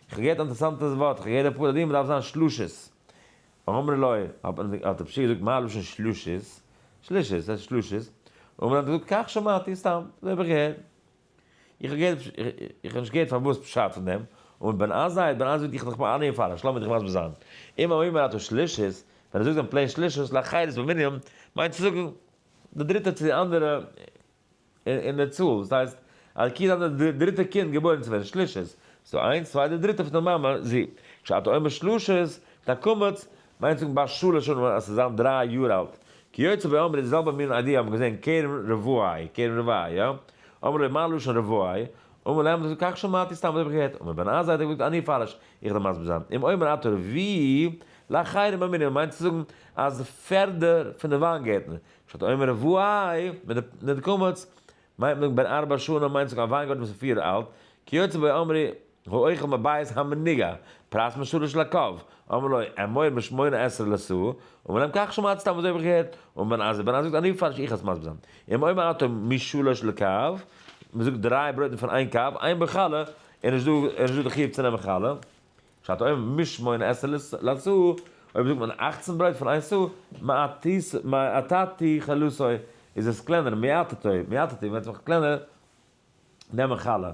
כ'האב געהערט אינטערסאנטע ווארט, כ'האב געהערט די פרה אדומה דארף זיין שלשות, אמר לו, האט מען, האט רב שי געזאגט מה לשון שלישית, שלישית, ס'הייסט שלישית, אמר לו האט ער געזאגט כך שמעתי, סתם, אזוי האב איך געהערט, איך האב געהערט, איך האב נישט געהערט פארוואס פשט פון דעם, אמר בן עזאי, בן עזאי וועט דיך נאכאמאל אנהערן פארן, שלום וועט דיך מסביר זיין, אם האומר אתו שלישית, ווען ער זאגט דעם פלעין שלישית, להחייל את מנינים, מיינט צו זאגן, די דריטע צו די אנדערע. אין דער צאל, דאס הייסט אז כיד האט דאס דריטע קינד געבוירן צו ווערן שלישית, ס'דא איינס, צוויי, די דריטע פון די מאמע, זי. כשאתה אומר שלשית, דיין קמץ, מיינט צו זאגן ביי שלש שנים אז ס'זאל זיין דריי יאר אלט. כי יוצא ואומר איז די זעלבע מין איידיע האבן געזען כרם רבועי, כרם רבעי, יא? אמר ליה מה לשון רבועי? אמר להם זאגט כך שמעתי סתם אזוי האב איך געהערט, און מבן עזה האט ער געזאגט אני אפרש, איך דער מסביר זיין, אם אומר אתה רביעי, לה חיירים המינים, מיינט צו זאגן אז פערדער פון די וויינגערטן, שעת עומר אוואי, מיט די קמץ מיינט מען בן ארבע שנים מיינט זיך א וויינגארטן וואס איז פיר יאר אלט, כיוצא באי אמרי האוכל מבית המנגה, פרס משלש לקב, אמר לו א מור משמונה עשרה לסו, ומלם כך שמעתי סתם אזוי האב איך געהערט, און בן עזר בן עזר זאגט אני פארש איך אז מסביר זיין, אם אומר אתה משלש לקב, מ'זאגט דריי ברויטן פון איין קב, עיין בחלה, און נישט דא די חיוב צו נעמען חלה. שאט אויב מישט מען עשר לסע', אויב זאגט מען אכצן ברייט פון איין סע', מעתתי כלסוי, איז עס קלענער, מעתתו, מעתתי, וועט זיך קלענער נעמען חלה.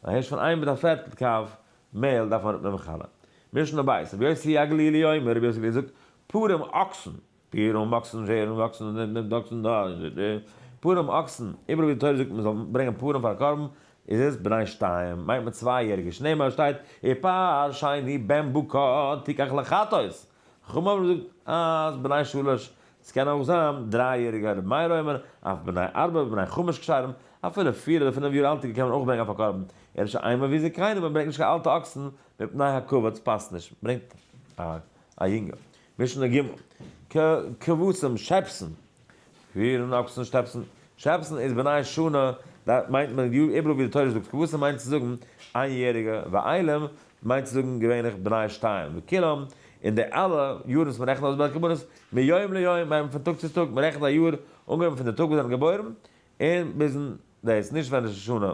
א הערש פון איין מיט א פערטל קב מעהל דארף מען אראפנעמען חלה. משנה ב', רבי יוסי הגלילי אומר, רבי יוסי הגלילי זאגט, פרים אקסן, פּורים אָקסן ווערן וואָקסן און נעמען דאָקסן דאָ און דאָ. פּורים אָקסן, איבעראָל ווי די תּורה זאָגט מע זאָל ברענגען פּורים פֿאַר אַ קרבן, איז עס בני שתּיים, מיינט מען צוויי יעריגע. שנעמער שטייט אי פּאַר שני בן בוקה תיקח לחטות. חכמים האָבן געזאָגט אַז בני שלש, עס קענען אויך זיין דריי יעריגע. רבי מאיר אומר אף בני ארבע ובני חמש כשרים, אפילו פיר אָדער פינף יאָר אַלטיגע קען מען אויך ברענגען פֿאַר קרבן. ער איז שוין איינמאָל ווי זקנים, מען ברענגט נישט קיין אַלטע אָקסן מפּני הכבוד, עס פּאַסט נישט. מען ברענגט אַ יונגע. משנה ג, כ כבשים שעפסן, פירן אקסן שטעפסן, שעפסן איז בני שנה, דא מיינט מען יאר איבעראל ווי די תורה זאגט כבשים מיינט צו זאגן איין יעריגע, ואיילים מיינט צו זאגן געווענליך בני שתיים וכולם, און די אלע יארן וואס מען רעכנט אויס ביי קרבנות, מיום ליום מיינט מען פון טאג צו טאג, מען רעכנט א יאר אנגעהויבן פון די טאג וואס זיי זענען געבוירן און ביזן דאס, נישט ווען ראש השנה.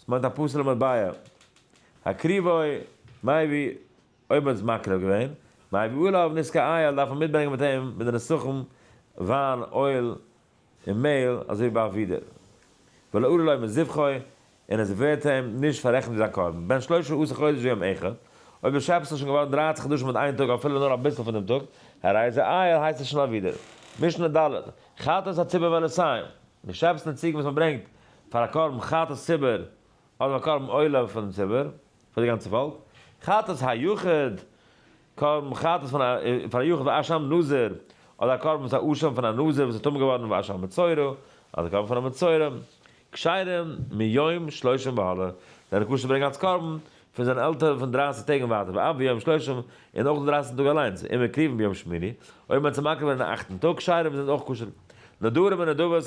עס מיינט א פסול'ע מטבע. הקריבוי, מייבי אויב מ'האט עס מקריב געווען, מייבי אויל אויף ניזקי אייל דארף מען מיטברענגען מיט אים מיט די נסכים וויין, אויל און מעהל אזוי ווי ביי אבידה. ולא עולה לו מזבחו און עס ווערט אים נישט פאררעכנט ווי זיין קרבן. בן שלושה עשר חודש ויום אחד, אויב די שעפעס איז שוין געווארן דרײַצן חדשים מיט איין טאג אפילו נאר אביסל פון דעם טאג, הרי זה אייל הייסט עס שוין אבידה. משנה ד', חטאת הציבור והנסיון, די שעפעס און די ציגן וואס מ'ברענגט פאר א קרבן חטאת ציבור אדער א קרבן עולה פאר דעם ציבור, פאר די גאנצע פאלק, חטאת היחיד, קרבן חטאת פון א פאר א יחיד ואשם נזיר, אדער א קרבן וואס א אשם פון א נזיר וואס איז טמא געווארן ואשם מצורע, אדער קרבן פון א מצורע, כשרים מיום שלושים והלאה, זיינע כשר'ע ברענגען אלס קרבן פון זיין עלטער פון דרייסיג טעג און ווייטער, ואף ביום שלושים, און אויך די דרייסיגסטן טאג אליינס, און מקריבן ביום שמיני, אויב מען האט צו מקריב ווערן אין אכטן טאג, כשרים זענען אויך כשר'ע נדרים און נדבות,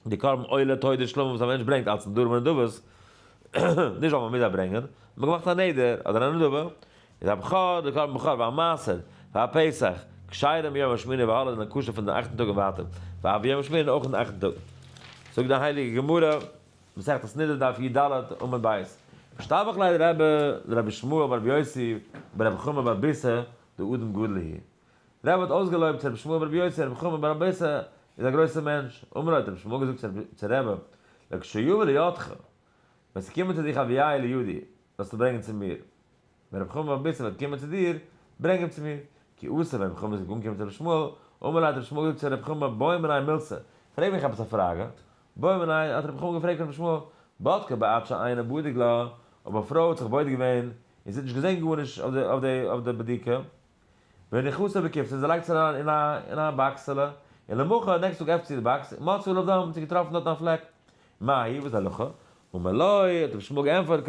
די קרבן עולה תודת שלמה וואס א מענטש ברענגט אלץ נדרים און נדבות, נישט ווייל מען מוז זיי ברענגען, מען האט געמאכט א נדר אדער א נדבה, איז א בכור, די קרבן בכור, והמעשר, פאר פסח, כשרים ביום השמיני והלאה זענען כשר פון די אכטן טאג און ווייטער, ואף ביום השמיני און אויך אין די אכטן טאג. זאגט די הייליגע גמרא, מסכת סנדרין דף י ד עמוד ב', משתבח לאדרבה דרבי שמואל בר רבי יוסי בר רבי חמא בר ביסא דאדם גדול הי'. רב האט אויסגעלויבט צו רבי שמואל ברבי יוסי רבי חמי בר אביסע איז א גרויסע מענטש, אמר האט רבי שמואל געזאגט צו רב לכשיבוא לידך ווען ס'וועט קומען צו דיך אביי לידי זאלסטו ברענגען צו מיר, ווען רבי חמי בר אביסע וועט קומען צו דיר ברענג אים צו מיר, כי עשה ווען רבי חמי איז אנגעקומען צו רבי שמואל, אמר לו האט רבי שמואל געזאגט צו רבי חמי בוא מנין מילתא, פרעג מיך עפעס א פראגע, בוא מנין האט רבי חמי געפרעגט רבי שמואל, בדקה בעת שאינה בודק לה, אויב א פרוי האט זיך בודק געווען און זי האט נישט געזען גארנישט אויף די בדיקה, ווען די חתן באקומט עס ער לייגט עס אריין אין א אין א באקסעלע, און למחרת נעקסט טאג עפנט זי די באקס און מצא עליו דם, האט זי געטראפן דארט א פלעק, מה היא וואס איז די הלכה? אמר לו, האט רבי שמואל געענטפערט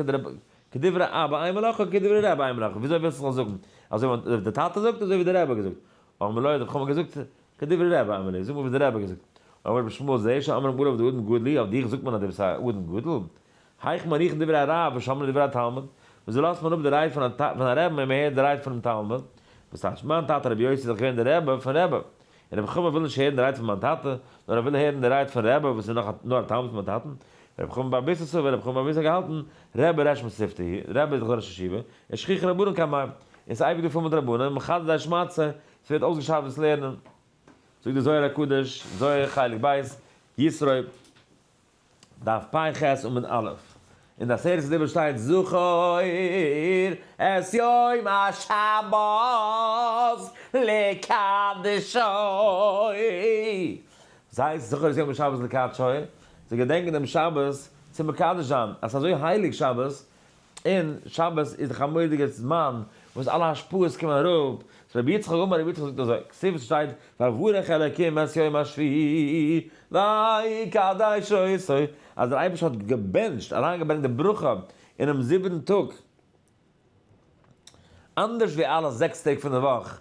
כדברי אבא אין מלאכה וכדברי רבא אין מלאכה, וויאזוי ווילסטו זאל זאגן? אזוי ווי די טאטע זאגט אזוי ווי די רבי האט געזאגט? אמר לו, האט רבי חמא געזאגט כדברי רבא אמר לי, זאג מיר וואס די רבי האט געזאגט, אמר רבי שמואל זה שאמר אמרו עליו די אדם גדלי, אויף דיך זאגט מען אז די ביסט א אדם גדול, הייך מאריכין דברי הרב ושומרין לדברי התלמוד, וויאזוי לאזט מען אפ די רייד פון א רעבן און מען הערט די רייד פונעם תלמוד? וואס טייטש? מיין טאטע רבי יוסי איז דאך געווען דער רעבע פון רעבע, און רבי חמא וויל נישט הערן די רייד פון מיין טאטע, נאר ער וויל הערן די רייד פון רעבע וואס איז נאך נאר א תלמיד פון מיין טאטן, רבי חמא בר ביססא סובר, רבי חמא בר ביססא האט געהאלטן, רעבע רעש מספתא היא, רעבע איז דאך דער ראש ישיבה, און שכיחין רבנן כמים, און ס'איז אייביג דא פול מיט רבנים, מחדש די השמצה, ס'ווערט אויסגעשארפט דאס לערנען. זאגט דער זוהר הקדוש, זוהר חלק ב', ישרוי. דף פי ח עמוד א', אין די עשרת הדיברות שטייט זכור את יום השבת לקדשו, וואס הייסט זכור את יום השבת לקדשו? צו געדענקן דעם שבת צו מקדש זיין, אז ס'איז אזוי הייליג שבת, און שבת איז דאך א מודיגער זמן וואס אלע השפעות קומען אראפ, סאו רבי יצחק אמר רבי יצחק זאגט אזוי, כסדר וואס שטייט ויברך אלקים את יום השביעי ויקדש אותו, אז דער אייבערשטער האט געבענטשט, אריינגעברענגט די ברכה אינעם זיבעטן טאג, אנדערש ווי אלע זעקס טעג פון די וואך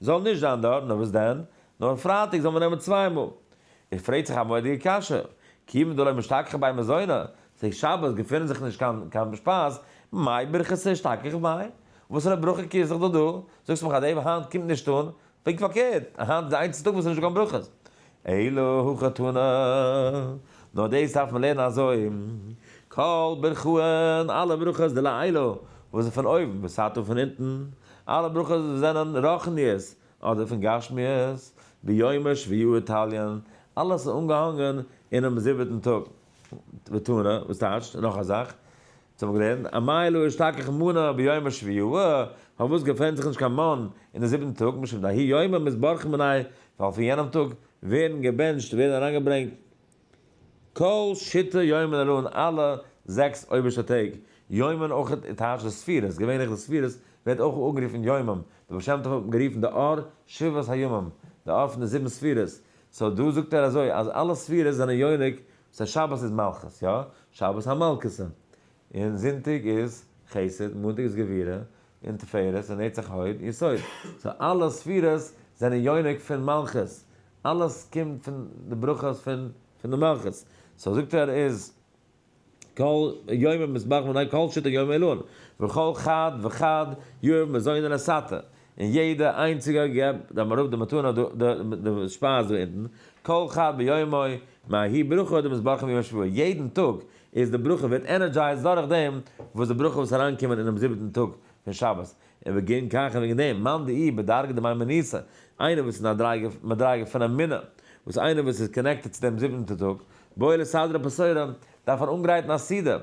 זאל נישט זיין דארט, נאר וואס דען? נאר פרייטאג זאל מען נעמען צוויי מאל. איר פרעגט זיך א מודיע קשיא, כיוון דלא משתכחין ביי מזונות, צוליב שבת געפינען זיך נישט קיין קיין שפייז, מאי ברכת אשתכח ביי? וואסערע ברכה קעירסט זיך דו דא? זאגסט מיך אז דעם היינט קומט נישט אן? פונקט פארקערט, היינט איז די איינציגסטע טאג וואס איז נישטא קיין ברכות. אלא הוא חתונה, נאר דאס דארף מען לערנען אזוי, כל ברכהן, אלע ברכות דלעילא וואס איז פון אויבן, בסתר פון אונטן, אלע ברכות וואס זענען רוחניות אדער פון גשמיות, ביומא שביעי תליין, אלעס איז אנגעהאנגען אינעם זיבעטן טאג, ותנא, וואס טייטשט, נאך א זאך, זיי האבן געלערנט א מייל אור שתכח מנה ביום השביעי ו ה וואס געפונט זיך נישט קיין מן אין די זיבן טאג משום דהאי יומא מתברכין מנין ווייל פון יענעם טאג ווערן געבענטשט ווערן אריינגעברענגט כל שיטה יומין אלא אין אלע זעקס אויבערשטע טעג יומין אויך איז טייטש די ספירות געווענליך די ספירות ווערט אויך אנגערופן יומם די בעל שם טוב האט גערופן די אור שבעת הימים די אור פון די זיבן ספירות סאו דא זאגט ער אזוי אז אלע ספירות זענען יונק סא שבת איז מלכות, יא? שבת המלכות'ע. און זונטאג איז חסד, מאנטאג איז גבורה, און תפארת, און נצח הוד, יסוד. סא אלע ספירות זענען יונק פון מלכות. אלעס קומט פון די ברכות פון פון די מלכות. סא זאגט ער איז כל יומי מזבח מנין כל שיטה יומי עילאה. וכל חד וחד יאיר מזוני לסאטע. און יעדע איינציגע געב דעם רב די מתנה דא די די שפייז דא אונטן, כל חד ביומו, מהאי ברכה די מזבחים יום השבועה, יעדן טאג איז די ברכה ווערט ענערדזשייזד דורך דעם וואס די ברכות אריינקומען אינעם זיבעטן טאג פון שבת, און וגם כך און וועגן דעם מאן דאי בדרגא דמיימוניסא, איינער וואס איז אין א דרגה מדרגה פון אמונה, וואס איינער וואס איז קאנעקטעד צו דעם זיבענטע טאג, בואי לסדרא פסורא, דארף ער אנגרייטן א סידור,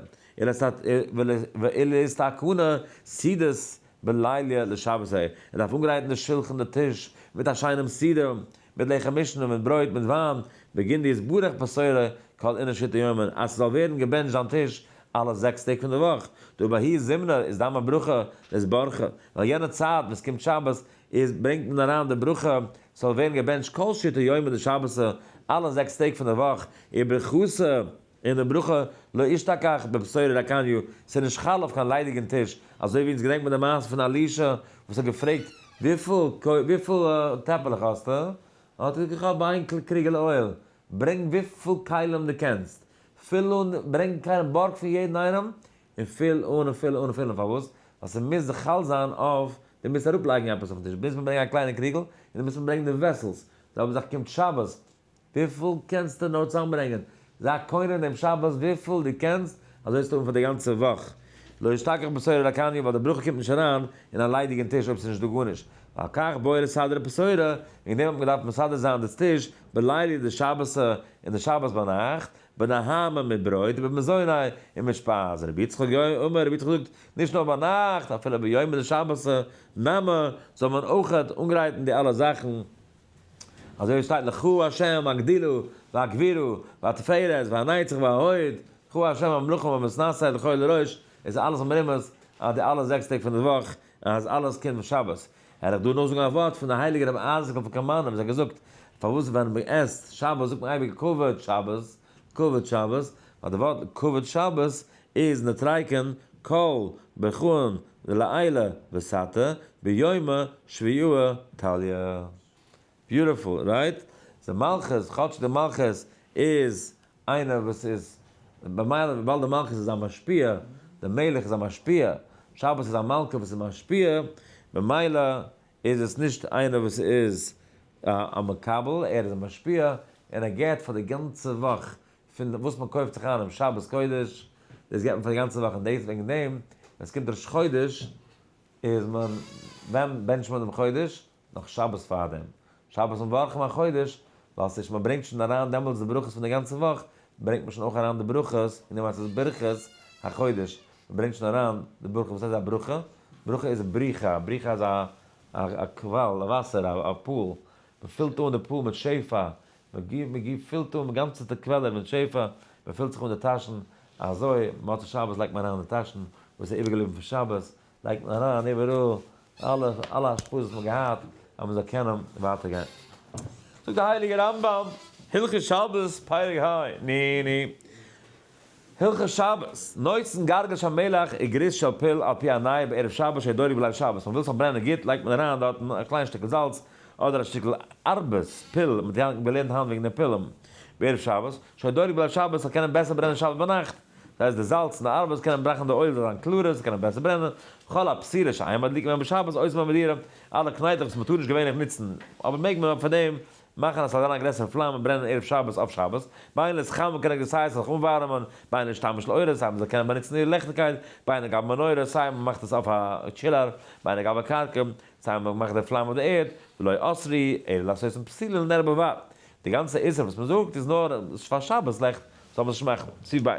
ולהסתכנה סידות בלילה לשבת ה, ער דארף אנגרייטן די שולחן די טיש, מיט א שיינעם סידור, מיט לחם משנה, מיט ברויט, מיט וויין, בגין די יתברך בשורה כל אינא שיטא יומא, אז ס'זאל ווערן געבענטשט זיין טיש אלע זעקס טעג פון די וואך, דא בהאי זימנא איז דאן מיין ברכה איז ברכה, ווייל יענע צייט וואס קומט שבת איז ברענגט מען אריין די ברכה ס'זאל ווערן געבענטשט כל שיטא יומא דשבתא אלע זעקס טעג פון די וואך, וברכותו. און די ברכה לא אשתכח בבשורה רקניו, ס'איז נישט חל אויף קיין ליידיגן טיש, אזוי ווי אונז געדענקט מען די מעשה פון אלישע וואס האט געפרעגט וויפיל טעפלעך האסטו? האט ער געזאגט איך האב איין קריגעלע אויל, ברענג וויפיל כלים דו קענסט, פיל אן, ברענג א קליינע בארג פון יעדן איינעם, און פיל אן און פיל אן און פיל אן, פארוואס? ווייל ס'מוז זיך חל זיין אויף, דו מוזט אראפלייגן עפעס אויפן טיש, מוז מען ברענגען א קליינע קריגל, און דו מוזט מיר ברענגען די וועסלס, זיי האבן זיך געקומט שבת וויפיל קענסטו נאר צוזאמברענגען? זיי קונה דעם שבת וויפיל דו קענסט, אזוי וועסטו האבן פאר די גאנצע וואך. לא ישתכח בשורה לקניה, ווייל די ברכה קומט נישט אריין אין א ליידיגן טיש אויב ס'איז נישטא גארנישט. ועל כך בוער לסדר הבשורה, וועגן דעם האט מען געדארפט מסדר זיין דאס טיש בלילי דשבתא אין די שבת ביינאכט, בנהמה מיט ברויט ובמזוני און מיט שפייז. רבי יצחק יו א אומר, רבי יצחק זאגט, נישט נאר ביינאכט, אפילו ביומא דשבתא נמי זאל מען אויכעט אנגרייטן די אלע זאכן, אזוי ווי עס שטייט לך השם הגדילו והגבירו והתפארת והנצח וההוד, לך השם המלוכה והמשנשא לכל דורש, איז אלעס א מרומז אז די אלע זעקס טעג פון די וואך אז אלעס קומט פון שבת. העל איך דא נאכזאגן א ווארט פון די הייליגע רבי אייזיק'ל פון קאמארנא וואס ער האט געזאגט פארוואס ווען מען עסט שבת זאגט מען אייביג כבוד שבת, כבוד שבת, ביי די ווארטן כבוד שבת איז נתרייקן כל ברכהן דלעילא וסתא ביומא שביעיו תליא. ביוטיפול, רייט? די מלכות, כאטש די מלכות איז איינער וואס איז במילא וויבאלד די מלכות איז א משפיע, די מלך איז א משפיע, שבת איז א מלכה וואס איז משפיע, במילא איז עס נישט איינער וואס איז א מקבל, ער איז א משפיע, און ער געט פאר די גאנצע וואך פון וואס מען קויפט זיך איין אום שבת קודש, דאס געט מען פאר די גאנצע וואך, און דאס וועגן דעם ווען עס קומט ראש חודש איז מען, ווען בענטשט מען דעם חודש? נאך שבת פארדעם, שבת מברכים א חודש, ווייל ס'איז שוין מען ברענגט שוין אריין דעמאלטס די ברכות פון די גאנצע וואך, ברענגט מען שוין אויך אריין די ברכות, און דעמאלטס איז ברכות החודש, מען ברענגט שוין אריין די ברכה, וואס הייסט א ברכה? ברכה איז בריכה, א בריכה איז א קוואל, א וואסער, א פול, מען פילט אן די פול מיט שפע, מען גיבט פילט אן גאנצעטע קוועלער מיט שפע, מען פילט זיך אן די טאשן, אזוי מוצאי שבת לייגט מען אריין אין די טאשן וואס איז איבער געבליבן פון שבת, לייגט מען אריין איבעראל אלע השפעות וואס מען האט געהאט, אז מען זאל קענען ווייטער גיין. זאגט די הייליגע רמב ם, הלכות שבת, פרק ה, ני ני, הלכות שבת, נוצן גרגש המלח און גריס של פיל על פי העניים בערב שבת שער דורי בליל שבת, אז מ'וויל ס'זאל ברענען גוט לייגט מען אריין דארט א קליין שטיקל זאלץ אדער א שטיקל ארבעס פיל, מ'האט יא געלערנט היינט וועגן די פילם בערב שבת שער דורי בליל שבת ס'זאל קענען בעסער ברענען שבת ביינאכט, דאס הייסט די זאלץ און די ארבעס קענען בראכן די אויל זאל זיין קלארער ס'זאל קענען בעסער ברענען, כל הפסילה שאין מדליקים בהם בשבת אויסער מען וועט דירה אלע קנייטלעך וואס מ'טאר נישט געווענליך נוצן אבער מעג מען אויף פאר דעם מאכן אז ס'זאל זיין א גרעסערע פלאם און ברענען ערב שבת אויף שבת, ביי איינער איז חם קען ער געס הייס זיך אנווארעמען, ביי איינער איז שטאמען של אורות סיי מ'זאל קענען באנוצן איר ליכטיגקייט, ביי איינער גייט מנורה סיי מ'מאכט עס אויף א טשילאר, ביי איינער גייט בקרקע סיי מ'מאכט די פלאם אויף די ערד, ולא אסרי אלא לעשות אין פסילין נר בבד, די גאנצע איסור וואס מ'זאגט איז נאר פאר שבת לעכט, זאל מען עס נישט מאכן, סי' ב',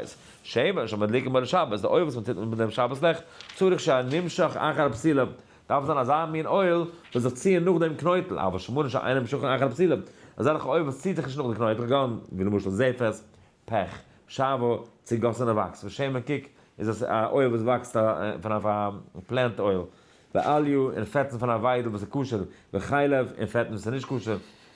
שמן שמדליקים ערב שבת, די אויל וואס מ'טוט מיט דעם שבת לעכט, צריך שיין נמשך אחר פסילה. דארף זיין אזא מין אויל וואס זיך ציען נאך דעם קנויטל, אבל שמנים שאינם שוכן אחר הפסילה, אזעלכע אויל וואס ציעט זיך נישט נאך די קנויטל, כגון, ווי למשל זפת, פעך, שאווא, צוגאסענע וואקס, ושמן קוק איז עס א אויל וואס וואקסט פון א פלענט אויל, ואליהו און פעטן פון א וויידל וואס איז כשר, וחלב און פעטן וואס איז נישט כשר,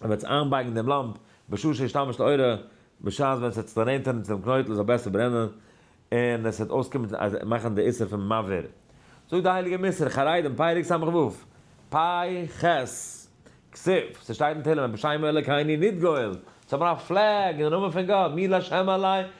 ער וועט זיך איינבייגן דעם לאמפ בשעה שישתמש לאורה, בשעת ווען עס וועט זיך צונענטערן צו דעם קנויטל זאל בעסער ברענען, און עס וועט אויסקומען אז מאכן די איסור פון מבער. זאגט דער הייליגער מס' חרדים, פרק סה ו, פאי ח, כסוף, ס'שטייט אין תהלים, בשם אלוקינו נתגאל, זאל מען אפפלעקן אין נאמען פון גאט, מי לה' עלי,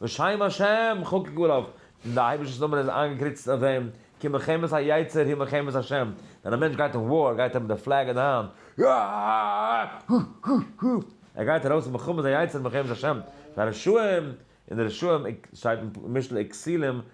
בשם השם כ'האב געגאר האפט און די אייבערשטענס נאמען איז איינגעקריצט אויף אים, כי מלחמת היצר היא מלחמת השם, ווען א מענטש גייט אין וואר גייט ער מיט די פלעג אין די האנט, ער גייט ארויס אין מלחמת היצר מלחמת השם, פאר רשעים, און די רשעים שטייט אין משלי כסילים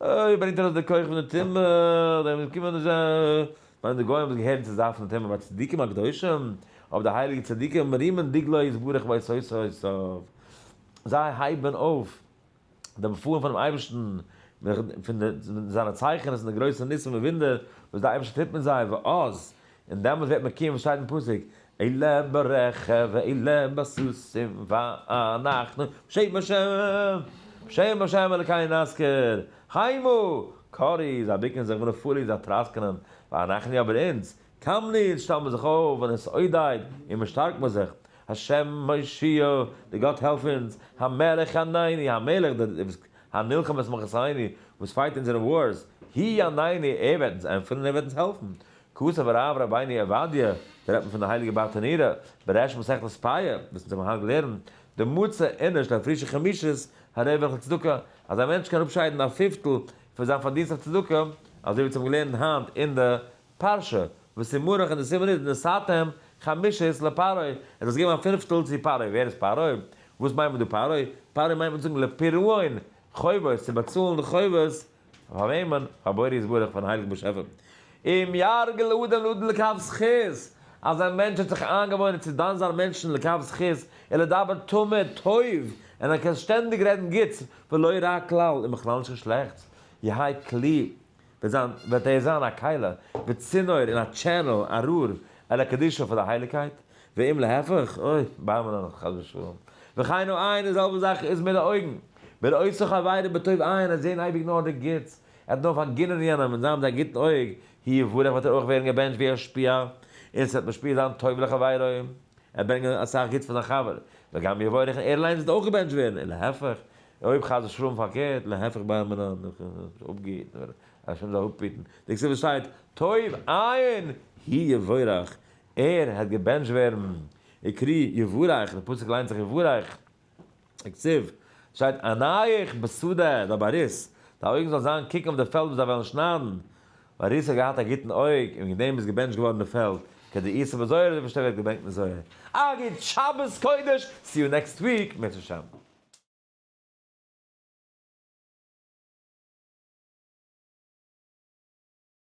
אוי ברענגט ארויס די כח פון די טומאה, דער וואס קומט נישט אויף מיינט די גוים וואס געהערן צו זייט פון די טומאה ביי צדיקים הקדושים, אויף די הייליגע צדיקים מרימים דגלו יתברך בית יוסף, זיי הייבן אויף די באפעלן פונעם אייבערשטן, פון זיינע צייכענעס און די גרויסע ניסים און וואונדער וואס דער אייבערשטער טוט מיט זיי, ואז און דעמאלס וועט מען קומען וואס שטייט אין פסוק, אלה ברכב ואלה בסוסים ואנחנו בשם השם בשם השם אלקינו נזכיר, חיימא, קרי איז א בוקן זיך ונפולי איז א טראסקענען, ואנחנו אבער אונז, קמנו אונז שטעלן מיר זיך אויף ונסעודאיד און מיר שטארקן מיר זיך, השם מושיעו, דער גאט העלף אונז, המלך חנני, המלך דער וואס הנלחם את מלחמתינו, וואס פייט אונזערע ווארס, הי' ענני, ער וועט אונז ענטפערן און ער וועט אונז העלפן, כתב הרב רבינו עובדיה, דא רעדט מען פון די הייליגע בארטענירא, בראש מסכת פאה, וואס אונז האבן היינט געלערנט, די מוצא עונש די פרישע חמישית הרווח לצדקה, אז א מענטש קען אראפשיידן א פיפטל פון זיין פארדינסט אויף צדקה, אזוי ווי אונז האבן געלערנט היינט אין די פרשה, וואס איז מרח און די סימן איז נשאתם חמישית לפרעה, ער האט זיך געגעבן א פינפטל צו פרעה, ווער איז פרעה? וואס מיינט מען דא פרעה? פרעה מיינט מען צו זאגן לפרעון חובות, צו באצאלן די חובות, פאר וועמען? פאר בורא יתברך פארן הייליגן באשעפער אם יהרגל אדם לאדם לקו זכות, אז א מענטש האט זיך איינגעוואוינען צו דן זיין מענטשן לקו זכות און לדבר תמיד טוב, און ער קען שטענדיג רעדן גוטס ולא רע כלל און בכלל נישט קיין שלעכטס, יהא כלי, וועט זיין, וועט ער זיין א כלה וצינור און א טשענעל, א רור, אל הקדושה פאר די הייליגקייט, ואם להפך, אוי, בר מן אנכ, חס ושלום. וכן העין, די זעלבע זאך איז מיט די אויגן. מען עושה זיך עבירה בטוב עין, ער זען אייביג נאר די גוטס, ער האט נאר פארגינען יענעם און זיין מיט א גוטן אויג, הי יברך וועט ער אויך ווערן געבענטשט ווי א שפיע, און ס'וועט משפיע זיין טוב לחבירו, ער ברענגט אסאך גוטס פאר זיין חבר, וגם יברך און ער אליינס וועט אויך געבענטשט ווערן, און להפך, אויב חס ושלום פארקערט, להפך בר מן אנכ, אפגעהיטן ווערן, השם זאל אפהיטן, די כסדר שטייט, טוב עין, הי יברך, ער העט געבענטשט ווערן, יקרי יבורך, די פסוק ליינט זיך יבורך, יקציב, שטייט ענייך בשדה, זיי באריס, דיין אויגן זאל זיין קוקן אויף די פעלד וואס זיי וועלן שניידן, באריס האט געהאט א גוטן אויג, און וועגן דעם איז געבענטשט געווארן די פעלד, כדי איסר בזוהר אזוי פארשטייט ווערט געברענגט אין זוהר. א גוט שבת קודש, סי יו נעקסט וויק בעז השם.